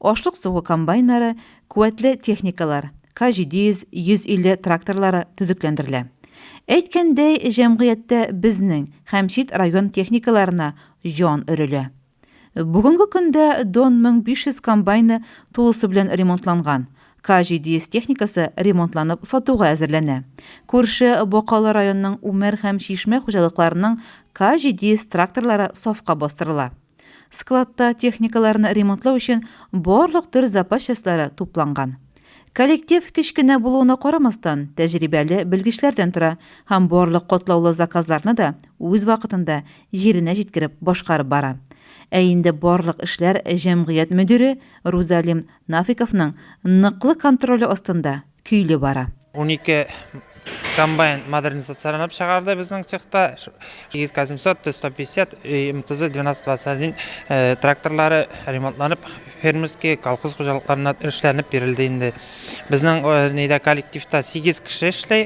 Ашлык сугу комбайннары, куәтле техникалар, К-700, 150 тракторлары төзекләндерелә. Әйткәндәй, җәмгыятьтә безнең һәм чит район техникаларына җан өрелә. Бүгенге көндә Дон 1500 комбайны тулысы белән ремонтланган, К-700 техникасы ремонтланып сатуга әзерләнә. Күрше Бакалы районының Үмәр һәм Чишмә хуҗалыкларының К-700 тракторлары сафка бастырыла. Складта техникаларны ремонтлау өчен барлык төр запас частьлары тупланган. Коллектив кечкенә булуына карамастан, тәҗрибәле белгечләрдән тора һәм барлык катлаулы заказларны да үз вакытында җиренә җиткереп башкарып бара. Ә инде барлык эшләр җәмгыять мөдире Рузалим Нафиковның ныклы контроле астында. көйле бара. Унике комбайн модернизацияләнеп чыгарды безнең цехта. ИСК-700, Т-150, МТЗ 1221 тракторлары ремонтланып, фермерский, колхоз хуҗалыкларына эшләнеп бирелде инде. Безнең нидә коллективта сигез кеше эшли,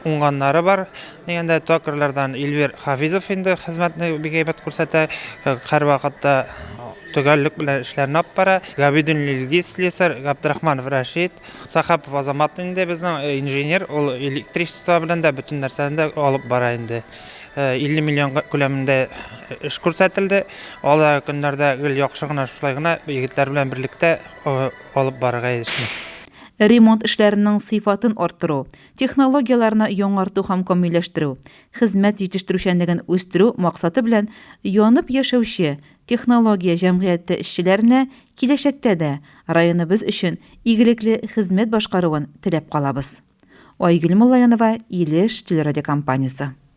уңганнары бар. Дигәндә, токарьлардан Эльвир Хафизов инде хезмәтне бик әйбәт күрсәтә, һәрвакытта төгәллек белән эшләрен алып бара. Габидуллин Илгиз, слесарь, Габдрахманов Рәшит, Сахапов Азамат инде безнең э, инженер, ул электричество белән дә бөтен нәрсәне дә алып бара инде. 50 э, миллион күләмендә э, эш күрсәтелде. Алда көннәрдә гел яхшы гына шулай гына егетләр белән берлектә алып барырга эшне. Ремонт эшләренең сыйфатын арттыру, технологияләрне яңарту һәм камилләштерү, хезмәт җитештерүчәнлеген үстерү максаты белән янып яшәүче Технология җәмгыяте эшчеләренә киләчәктә дә районыбыз өчен игелекле хезмәт башкаруын теләп калабыз. Айгөл Муллаянова, Илеш телерадиокомпаниясе.